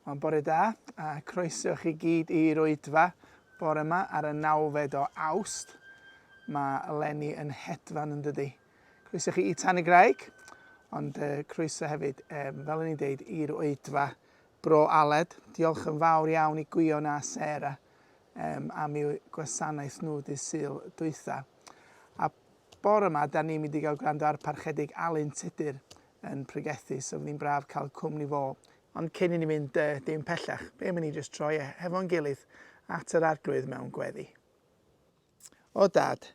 Mae'n bore da, a croeso chi gyd i'r oedfa bore yma ar y nawfed o awst. Mae Lenny yn hedfan yn dydy. Croeso chi i Tan y Graig, ond uh, croeso hefyd, um, fel o'n i'n deud, i'r oedfa Bro Aled. Diolch yn fawr iawn i Gwion a Sarah um, am eu gwasanaeth nhw dy syl dwytha. A Bore yma, da ni'n mynd i gael gwrando ar Parchedig Alun Tudur yn pregethu, so fydd hi'n braf cael cwmni fo. Ond cyn i ni fynd yy dim pellach, be am i ni jyst troi e hefo'n gilydd at yr Arglwydd mewn gweddi. O Dad,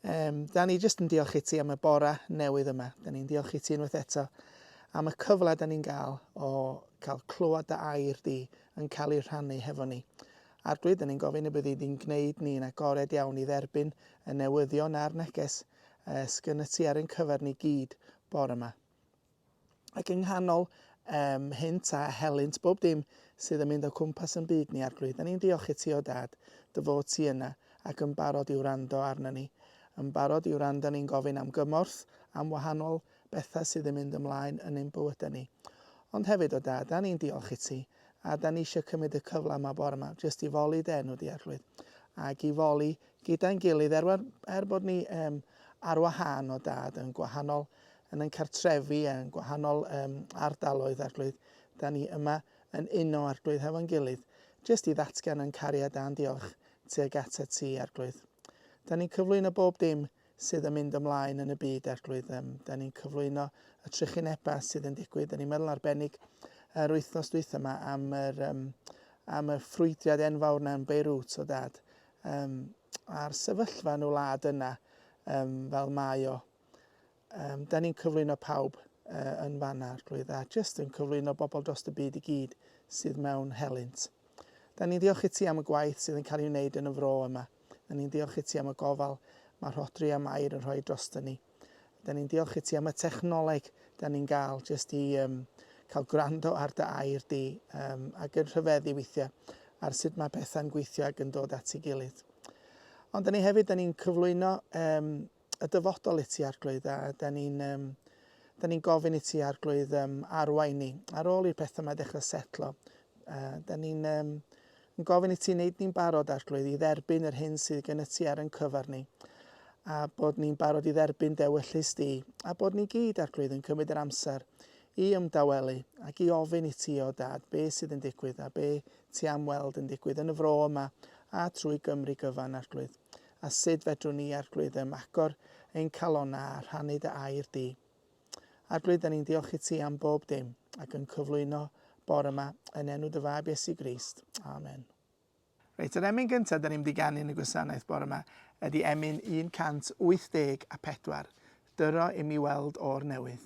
um, da ni jyst yn diolch i ti am y bore newydd yma. Da ni'n diolch i ti unwaith eto am y cyfle da ni'n gael o cael clywed dy air di yn cael ei rhannu hefo ni. Arglwydd, dan ni'n gofyn y bydd i di'n gwneud ni'n agored iawn i dderbyn y newyddion a'r neges y sgyn y ti ar ein cyfer ni gyd bore yma. Ac yng nghanol um, hynt a helynt bob dim sydd yn mynd o cwmpas yn byd ni, Arglwydd, dan ni'n diolch i ti o dad, dy fod ti yna ac yn barod i wrando arno ni, yn barod i wrando ni'n gofyn am gymorth, am wahanol bethau sydd yn mynd ymlaen yn ein bywydau ni. Ond hefyd o dad, dan ni'n diolch i ti A dan ni eisiau cymryd y cyfle yma bore yma jyst i foli dy enw di Arglwydd ac i foli gyda'n gilydd er, er bod ni um, ar wahân o dad yn gwahanol yn ein cartrefi yn gwahanol um, ardaloedd Arglwydd. Da ni yma yn uno Arglwydd hefo'n gilydd jyst i ddatgan yn cariad a'n diolch tuag at y ti Arglwydd. Da ni'n cyflwyno bob dim sydd yn mynd ymlaen yn y byd Arglwydd. Um, da ni'n cyflwyno y trychinebau sydd yn digwydd. Da ni'n meddwl arbennig yr wythnos dwyth yma am yr, um, am y ffrwydiad enfawr na'n Beirut o dad. Um, a'r sefyllfa yn y wlad yna um, fel mae o. Um, da ni'n cyflwyno pawb uh, yn fanna, Arglwydd, a jyst yn cyflwyno bobl dros y byd i gyd sydd mewn helynt. Da ni'n ddiolch i ti am y gwaith sydd yn cael ei wneud yn y fro yma. Dyn ni'n diolch i ti am y gofal mae Rhodri a Mair yn rhoi drosto ni. Dyn ni'n diolch i ti am y technoleg dyn ni'n gael jyst i um, cael gwrando ar dy air di um, ac yn rhyfeddu weithiau ar sut mae pethau'n gweithio ac yn dod at ei gilydd. Ond dyn ni hefyd dyn ni'n cyflwyno um, y dyfodol i ti arglwydd a da ni'n um, da ni'n gofyn i ti arglwydd um, arwain ni ar ôl i'r pethau mae dechrau setlo uh, da ni'n um, yn gofyn i ti wneud ni'n barod arglwydd i dderbyn yr hyn sydd gen y ti ar yn cyfer ni a bod ni'n barod i dderbyn dewyllus di a bod ni gyd arglwydd yn cymryd yr amser i ymdawelu ac i ofyn i ti o dad be sydd yn digwydd a be ti am weld yn digwydd yn y fro yma a trwy Gymru gyfan arglwydd. a sut fedrwn ni Arglwydd ym agor ein calonnau a rhannu dy air di. Arglwydd, da ni'n diolch i ti am bob dim ac yn cyflwyno bore yma yn enw dy fab Iesu Grist. Amen. Reit, yr emyn gyntaf da ni'n mynd i ganu yn y gwasanaeth bore yma ydy emyn 184, Dyro i mi weld o'r newydd.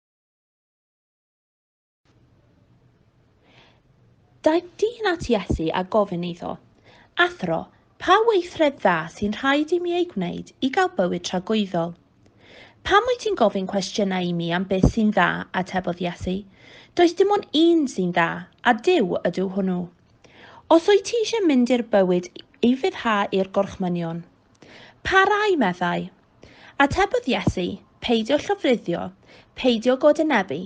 Daeth dyn at Iesu a gofyn iddo, Athro, pa weithred dda sy'n rhaid i mi ei gwneud i gael bywyd tragwyddol? Pam wyt ti'n gofyn cwestiynau i mi am beth sy'n dda, atebodd Iesu? Does dim ond un sy'n dda, a Duw ydyw hwnnw. Os wyt ti eisiau mynd i'r bywyd i fyddhau i'r gorchmynion. Pa rai, meddai? Atebodd Iesu, Peidio llofruddio, peidio godenebu,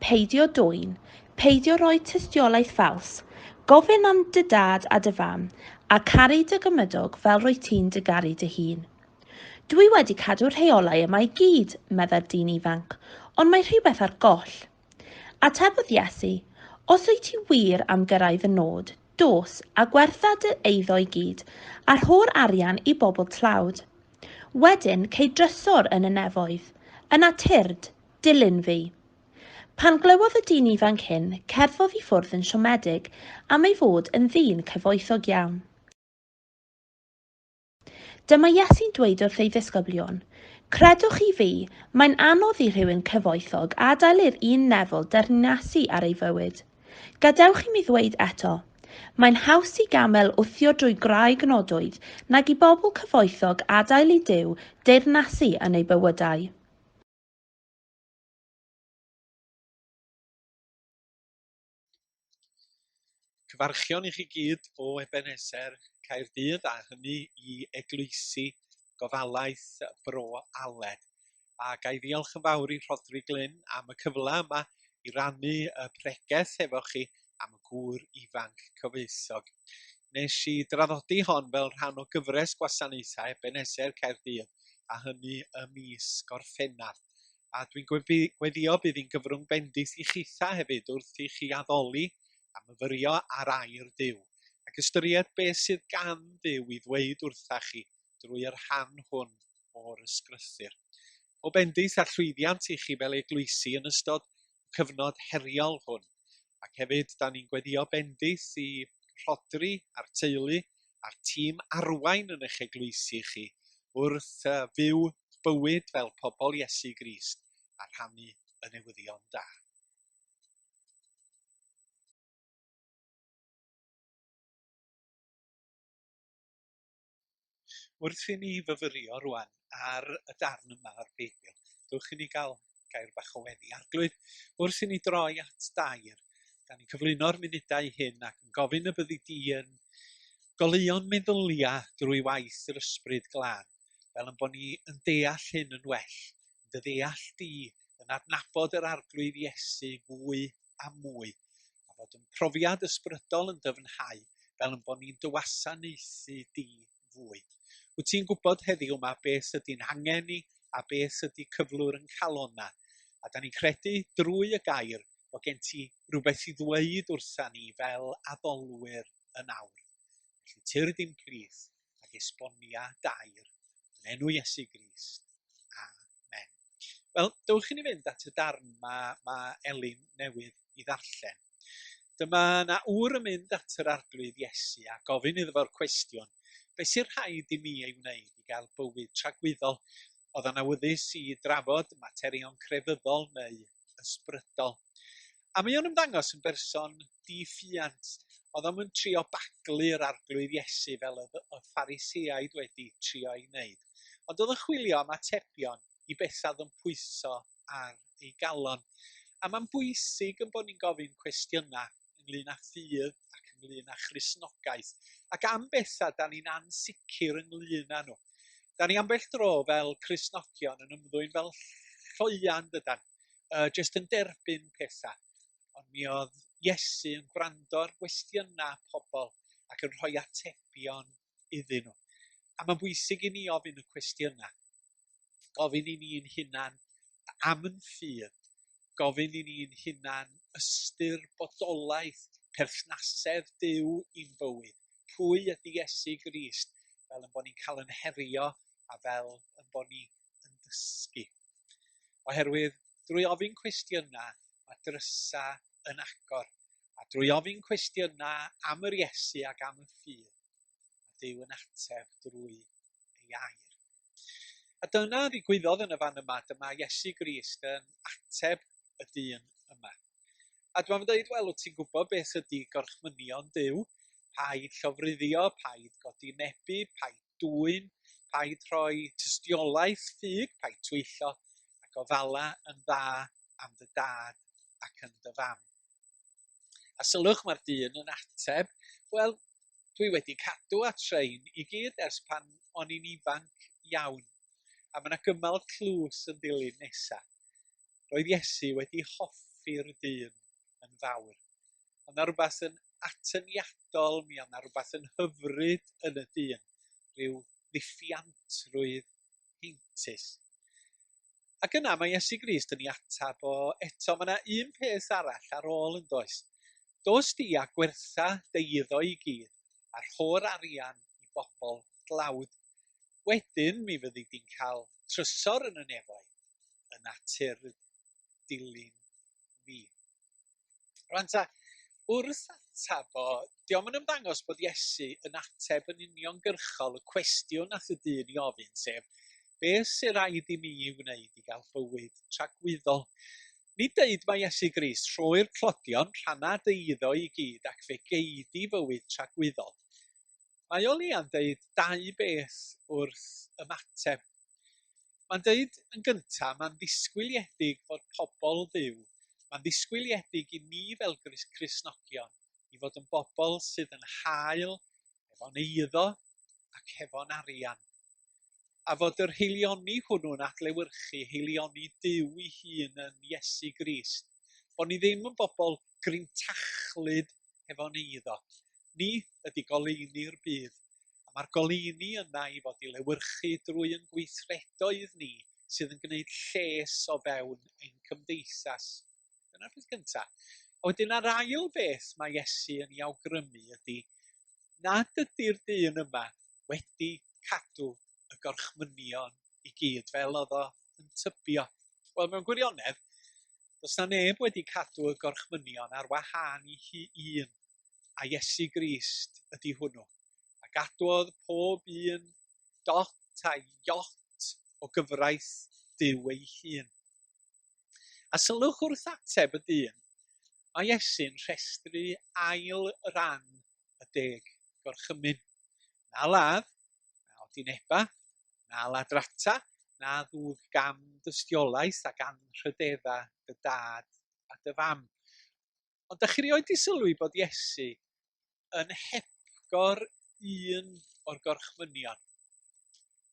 peidio dwyn, peidio rhoi tystiolaeth ffals, gofyn am dy dad a dy fam, a caru dy gymydog fel rwy ti'n dy garu dy hun. Dwi wedi cadw'r rheolau yma i gyd, medda'r dyn ifanc, ond mae rhywbeth ar goll. Atebodd Iesu, Os wyt ti wir am gyrraedd fy nod, dos, a gwertha dy eiddo i gyd, a rho'r arian i bobl tlawd. Wedyn, cei drysor yn y nefoedd, yna tyrd, dilyn fi. Pan glywodd y dyn ifanc hyn, cerddodd i ffwrdd yn siomedig am ei fod yn ddyn cyfoethog iawn. Dyma Iesu'n dweud wrth ei ddisgyblion, Credwch chi fi, mae'n anodd i rhywun cyfoethog adael i'r un nefol dernysu ar ei fywyd. Gadewch i mi ddweud eto, mae'n haws i gamel wthio drwy graig nodwyd nag i bobl cyfoethog adael i Duw deyrnasu yn eu bywydau. Cyfarchion i chi gyd o Ebeneser, Caerdydd, a hynny i Eglwysi Gofalaeth Bro Aled. A ga i ddiolch yn fawr i Rhodri Glyn am y cyfle yma i rannu y pregeth efo chi am y gŵr ifanc cyfoethog. Nes i draddodi hon fel rhan o gyfres gwasanaethau Ebeneser Caerdydd, a hynny ym mis Gorffennaf. a dwi'n gweddio bydd hi'n gyfrwng bendith i chitha hefyd wrth i chi addoli a myfyrio ar air Duw, ac ystyried beth sydd gan Dduw i ddweud wrtha chi drwy yr rhan hwn o'r ysgrythur. O bendith a llwyddiant i chi fel eglwysi yn ystod y cyfnod heriol hwn. ac hefyd 'dan ni'n gweddio bendith i Rhodri a'r teulu a'r tîm arwain yn eich eglwysi chi wrth uh, fyw bywyd fel pobl Iesu Grist a rhannu y newyddion da. Wrth i ni fyfyrio rwan ar y darn yma o'r Beibl, dewch i ni gael gair bach o weddi. Arglwydd, wrth i ni droi at dair, da ni'n cyflwyno'r munudau hyn ac yn gofyn y byddi di yn goleuo'n meddyliau drwy waith yr ysbryd glân, fel yn bod ni yn deall hyn yn well, yn dy ddeall di, yn adnabod yr Arglwydd Iesu fwy a mwy, a bod yn profiad ysbrydol yn dyfnhau fel yn bod ni'n dywasanaethu di fwy. Wyt ti'n gwybod heddiw yma beth sydy'n hangen ni a beth sydy cyflwr yn calonna, a da ni'n credu drwy y gair bod gen ti rhywbeth i ddweud wrtha ni fel addolwyr yn awr. Felly tyr dim plith ac esbonia dair yn enw Iesu Grist. men. Wel, dywch i ni fynd at y darn mae, mae Elin newydd i ddarllen. Dyma na ŵr yn mynd at yr arglwydd Iesu a gofyn iddo fo'r cwestiwn, beth sy'n rhaid i mi ei wneud i gael bywyd tragwyddol? Oedd yn awyddus i drafod materion crefyddol neu ysbrydol. A mae o'n ymddangos yn berson di-ffiant. Oedd o'n mynd trio baglu'r arglwydd Iesu fel oedd y Phariseaid wedi trio ei wneud. Ond oedd yn chwilio am atebion i bethau oedd yn pwyso ar ei galon. A mae'n bwysig yn bod ni'n gofyn cwestiynau ynglyn â ffydd ac ynglyn â Christnogaeth, ac am bethau da ni'n ansicr ynglyn â nhw. Da ni ambell dro fel Christnogion yn ymddwyn fel lloian, dydan, uh, jyst yn derbyn pethau. Ond mi oedd Iesu yn gwrando ar gwestiynau pobl ac yn rhoi atebion iddyn nhw. A mae'n bwysig i ni ofyn y cwestiynau. gofyn i ni'n hunan am yn ffydd, gofyn i ni'n hunan ystyr bodolaeth perthnasedd Duw i'n bywyd, pwy ydy Iesu Grist, fel yn bod ni'n cael yn herio a fel yn bod ni yn dysgu. Oherwydd drwy ofyn cwestiynau mae drysa yn agor, a drwy ofyn cwestiynau am yr Iesu ac am y ffydd, mae Duw yn ateb drwy ei air. A dyna ddigwyddodd yn y fan yma, dyma Iesu Grist yn ateb y dyn yma. A dwi'n mynd dweud, wel, wyt ti'n gwybod beth ydy gorchmynion Dyw? Paid llofruddio, paid godi nebu, paid dwy'n, paid rhoi tystiolaeth ffug, paid twyllo, ac o fala yn dda am dy dad ac yn dy fam. A sylwch mae'r dyn yn ateb, Wel, dwi wedi cadw at rhain i gyd ers pan o'n i'n ifanc iawn. A mae yna gymal tlws yn dilyn nesa. Roedd Iesu wedi hoffi'r dyn yn fawr. Ond yna rhywbeth yn atyniadol, mi oedd yna rhywbeth yn hyfryd yn y dyn, rhyw ddiffiantrwydd heintus. Ac yna mae Iesu Grist yn ei ateb, O, eto, mae yna un peth arall ar ôl yn does. Dos di a gwertha dy iddo i gyd, a rho'r arian i bobl dlawd. Wedyn mi fyddi di'n cael trysor yn y nefoedd, yn natur dilyn fi. Rwan ta, wrth ateb o, diolch yn ymddangos bod Iesu yn ateb yn uniongyrchol y cwestiwn nath y dyn i ofyn, sef, beth sy'n rhaid i mi i wneud i gael bywyd tragwyddol? Ni dweud mae Iesu Grist rhoi'r clodion rhannau dy iddo i gyd ac fe gei di fywyd tragwyddol. Mae o leia'n dweud dau beth wrth ymateb Mae'n dweud yn gyntaf, mae'n ddisgwyliedig fod pobl fyw, mae'n ddisgwyliedig i ni fel Cristnogion i fod yn bobl sydd yn hael hefo'n eiddo ac hefo'n arian. A fod yr heilioni hwnnw'n adlewyrchu heilioni Duw ei hun yn Iesu Grist. Bod ni ddim yn bobl grintachlyd hefo ni iddo. Ni ydy goleuni'r byd, a mae'r goleuni yna i fod i lewyrchu drwy yn gweithredoedd ni sydd yn gwneud lles o fewn ein cymdeithas. Dyna'r peth gyntaf. A wedyn ar ail beth mae Iesu yn ei awgrymu ydy nad ydy'r dyn yma wedi cadw y gorchmynion i gyd fel oedd o yn tybio. Wel, mewn gwirionedd, does na neb wedi cadw y gorchmynion ar wahân i hi un, a Iesu Grist ydy hwnnw. A gadwodd pob un dot a iot o gyfraith Dyw ei hun. A sylwch wrth ateb y dyn, mae Iesu'n rhestru ail ran y deg gorchymyn. Na ladd, na odineba, na ladrata, na ddwg gam dystiolaeth ac anrhydedda dy dad a dy fam. Ond da chi rioed di sylwi bod Iesu yn hepgor un o'r gorchmynion,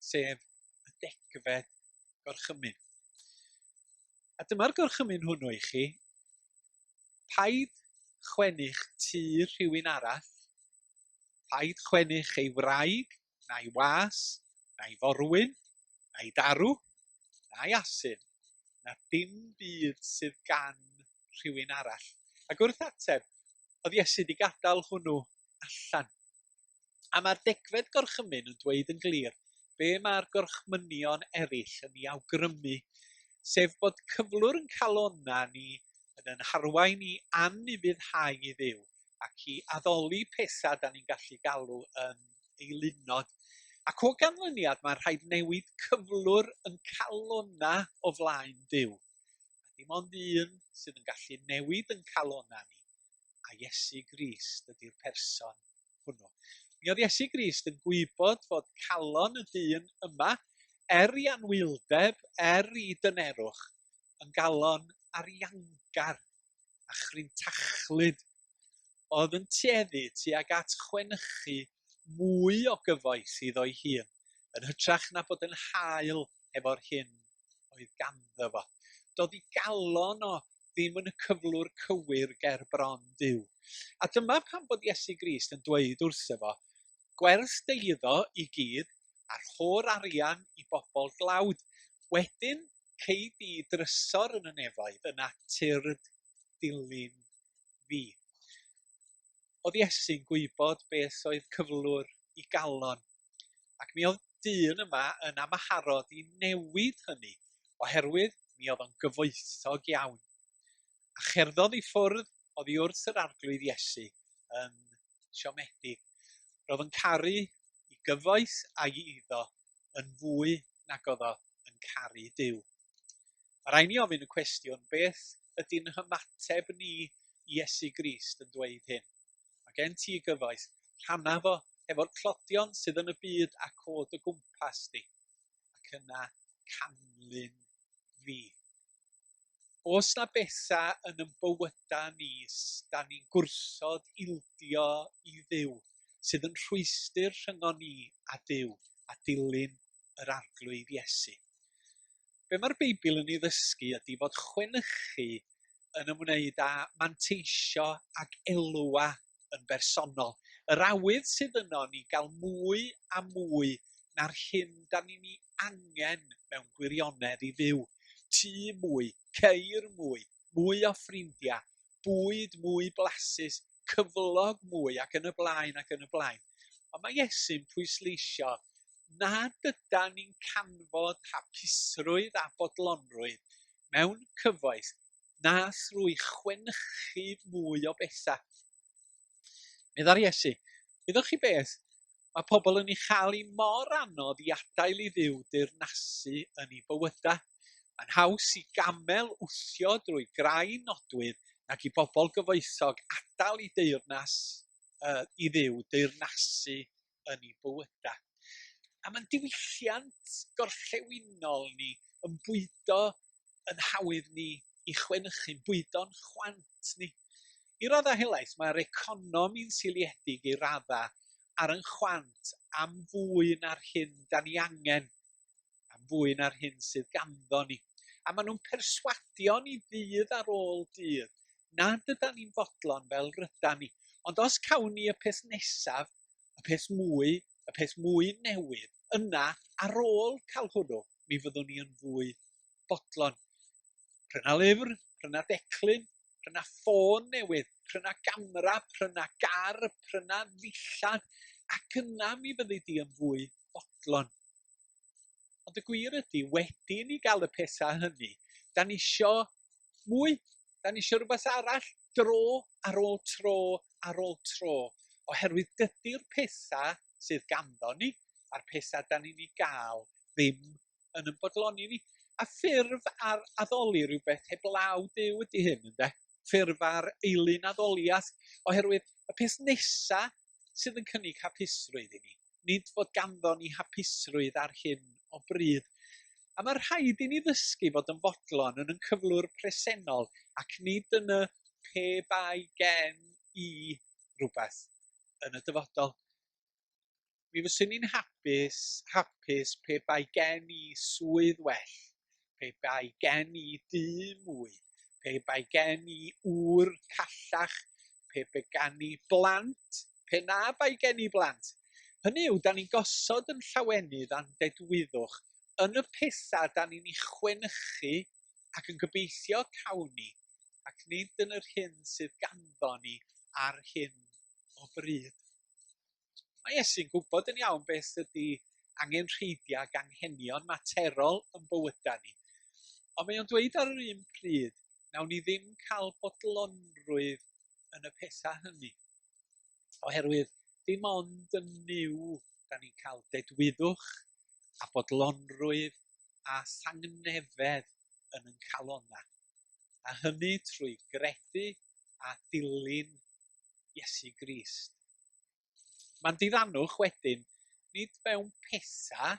sef y degfed gorchymyn. A dyma'r gorchymyn hwnnw i chi, paid chwennych tu rhywun arall Rhaid chwennych ei wraig, na'i was, na'i forwyn, na'i darw, na'i asyn, na dim byd sydd gan rhywun arall. Ac wrth ateb, oedd Iesu wedi gadael hwnnw allan. A mae'r degfed gorchymyn yn dweud yn glir be mae'r gorchmynion eraill yn ei awgrymu, sef bod cyflwr yn calonna ni yn yn harwain i anufuddhau i Dduw, ac i addoli pethau da ni'n gallu galw yn eilunod. Ac o ganlyniad, mae'n rhaid newid cyflwr yn calona o flaen Duw. A dim ond un sydd yn gallu newid yn calona ni, a Iesu Grist ydy'r person hwnnw. Mi oedd Iesu Grist yn gwybod fod calon y dyn yma, er i anwyldeb, er i dynerwch, yn galon ariangar a chrin tachlud oedd yn tueddu tuag at chwenychu mwy o gyfoeth iddo'i hun yn hytrach na bod yn hael hefo'r hyn oedd ganddo fo. Doedd ei galon o ddim yn y cyflwr cywir ger bron Duw. A dyma pam bod Iesu Grist yn dweud wrtho fo, gwerth dy iddo i gyd, a'r ho'r arian i bobl dlawd. Wedyn, Cei di drysor yn y nefoedd, yn natur dilyn fi. Oedd Iesu'n gwybod beth oedd cyflwr i galon, ac mi oedd dyn yma yn amharod i newid hynny, oherwydd mi oedd o'n gyfoethog iawn. A cherddodd i ffwrdd oddi wrth yr arglwydd Iesu yn siomedig. Roedd yn caru i gyfoeth a'i iddo yn fwy nag oedd o yn caru Duw. Mae rhaid ni ofyn y cwestiwn, beth ydy'n hymateb ni i Iesu Grist yn dweud hyn? Mae gen ti gyfoeth, rhanna fo hefo'r clodion sydd yn y byd ac o dy gwmpas di, ac yna canlyn fi. oes 'na betha yn yn bywyda ni 'sdan ni'n gwrthod ildio i Dduw, sydd yn rhwystr rhyngon ni a Duw, a dilyn yr Arglwydd Iesu? Be' mae'r Beibl yn ei ddysgu ydi fod chwenychu yn ymwneud â manteisio ag elwa yn bersonol. Yr awydd sydd yno ni gael mwy a mwy na'r hyn da ni'n ei angen mewn gwirionedd i fyw. Tŷ mwy, ceir mwy, mwy o ffrindiau, bwyd mwy blasus, cyflog mwy ac yn y blaen ac yn y blaen. Ond mae Iesu'n pwysleisio na dyda ni'n canfod hapusrwydd a bodlonrwydd mewn cyfoes na thrwy chwenchu mwy o bethau. Medda'r Iesu, Wyddoch chi beth? Mae pobl yn ei chael i mor anodd i adael i ddiw deyrnasu yn ei bywydau. Mae'n haws i gamel wthio drwy grau nodwydd nag i bobl gyfoethog adael i deyrnas uh, i ddiw deyrnasu yn ei bywydau. A mae'n diwylliant gorllewinol ni yn bwydo yn hawdd ni i chwenychu, bwydo'n chwant ni. I raddau helaeth, mae'r economi'n seiliedig i raddau ar yn chwant am fwy na'r hyn da ni angen, am fwy na'r hyn sydd ganddo ni. A maen nhw'n perswadio ni ddydd ar ôl dydd nad yda ni'n fodlon fel ryda ni. Ond os cawn ni y peth nesaf, y peth mwy, y peth mwy newydd, yna, ar ôl cael hwnnw, mi fyddwn ni yn fwy bodlon. Pryna lyfr, pryna declyn, pryna ffôn newydd, pryna gamera, pryna gar, pryna ddillad, ac yna mi fyddi di yn fwy bodlon. Ond y gwir ydy, wedi ni gael y pethau hynny, da ni isio mwy, da ni isio rhywbeth arall, dro ar ôl tro ar ôl tro, oherwydd dydy'r pethau sydd ganddo ni a'r pethau da ni'n ei gael ddim yn ymfodloni ni. A ffurf ar addoli rhywbeth heblaw Dyw ydy hyn, ynde? Ffurf ar eilun addoliaeth, oherwydd y peth nesaf sydd yn cynnig hapusrwydd i ni nid fod ganddo ni hapusrwydd ar hyn o bryd. A mae rhaid i ni ddysgu fod yn fodlon yn yn cyflwr presennol ac nid yn y pe bai gen i rhywbeth yn y dyfodol. Mi fyswn i'n hapus, hapus pe bai gen i swydd well, pe bai gen i dŷ mwy, pe bai gen i ŵr callach, pe bai gen i blant pe na bai gen i blant. Hynny yw, da ni'n gosod yn llawenydd a'n dedwyddwch yn y pethau da ni'n ei chwenychu ac yn gobeithio cawn ni, ac nid yn yr hyn sydd ganddo ni ar hyn o bryd. Mae Iesu'n gwybod yn iawn beth ydy angenrheidiau ac anghenion materol yn bywydau ni. Ond mae o'n dweud ar yr un pryd, nawn ni ddim cael bodlonrwydd yn y pethau hynny. Oherwydd dim ond yn Nuw da ni'n cael dedwyddwch a bodlonrwydd a thangnefedd yn ein calonnau, a hynny trwy gredu a dilyn Iesu Grist. Mae'n diddannwch wedyn, nid mewn pethau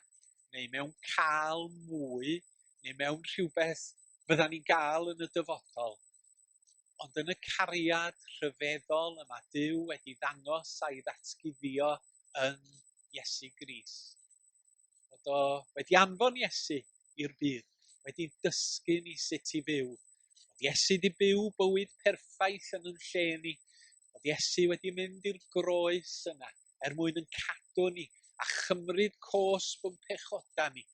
neu mewn cael mwy neu mewn rhywbeth fyddan ni'n gael yn y dyfodol, Ond yn y cariad rhyfeddol y mae Duw wedi ddangos a'i ddatguddio yn Iesu Gris. Bod o wedi anfon Iesu i'r byd, wedi dysgu ni sut i fyw. Bod Iesu wedi byw bywyd perffaith yn yn lle ni. Bod Iesu wedi mynd i'r groes yna er mwyn yn cadw ni a chymryd cos bwm pechoda ni.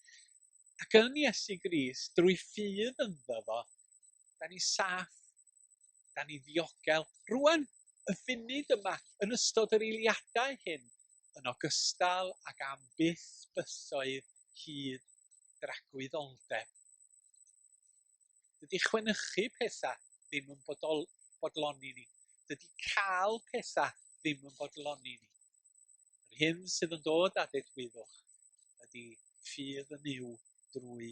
Ac yn Iesu Gris, drwy ffydd ynddo fo, da ni saff, da ni ddiogel. Rwan, y funud yma, yn ystod yr eiliadau hyn, yn ogystal ag am byth bythoedd hyd dragwyddoldeb. Dydy chwenychu pethau ddim yn bodol, bodloni ni. Dydy cael pethau ddim yn bodloni ni. Yr hyn sydd yn dod â dedwyddwch ydy ffydd yn yw drwy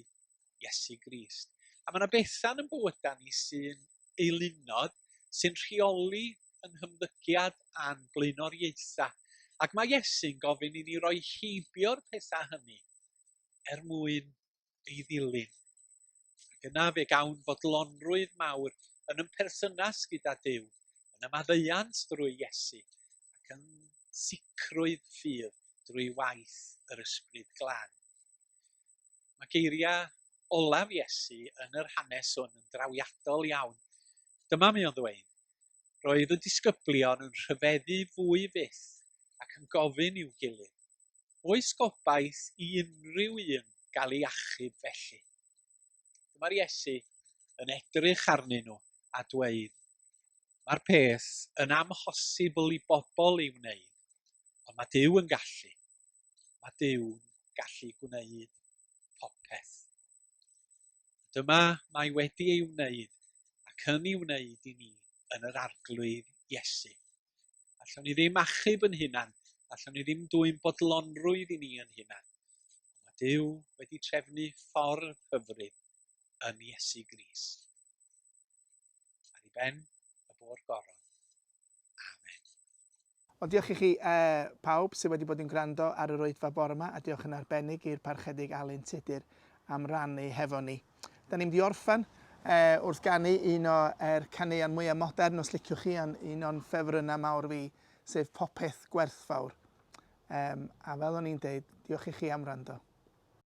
Iesu Grist. A mae yna bethau yn bywydau ni sy'n eilunod, sy'n rheoli yn hymddygiad a'n blaenoriaethau. Ac mae Iesu'n gofyn i ni roi heibio'r pethau hynny er mwyn ei ddilyn. Ac yna fe gawn fodlonrwydd mawr yn yn perthynas gyda Dyw, yn ymaddeuant drwy Iesu ac yn sicrwydd ffydd drwy waith yr Ysbryd Glân. Mae geiriau olaf Iesu yn yr hanes hwn yn drawiadol iawn. Dyma mi o'n ddweud, Roedd y disgyblion yn rhyfeddu fwy fyth ac yn gofyn i'w gilydd, Oes gobaith i unrhyw un gael ei achub felly? Dyma'r Iesu yn edrych arnyn nhw a dweud, Mae'r peth yn amhosibl i bobl ei wneud, Ond mae Duw yn gallu. Mae Dyw'n gallu gwneud popeth. Dyma mae wedi ei wneud ac yn ei wneud i ni yn yr arglwydd Iesu. Allwn ni ddim achub yn hunan, allwn ni ddim dwy'n bodlonrwydd i ni yn hunan. Mae Dyw wedi trefnu ffordd hyfryd yn Iesu Gris. Ar i ben y bor goron. Wel, diolch i chi pawb sydd wedi bod yn gwrando ar yr Oedfa bore 'ma, a diolch yn arbennig i'r Parchedig Alun Tudur am rannu hefo ni. Da ni'n mynd i orffen wrth ganu un o'r caneuon mwyaf modern, os liciwch chi, ond un o'n ffefrynnau mawr fi, sef Popeth Gwerthfawr. A fel o'n i'n deud, diolch i chi am wrando.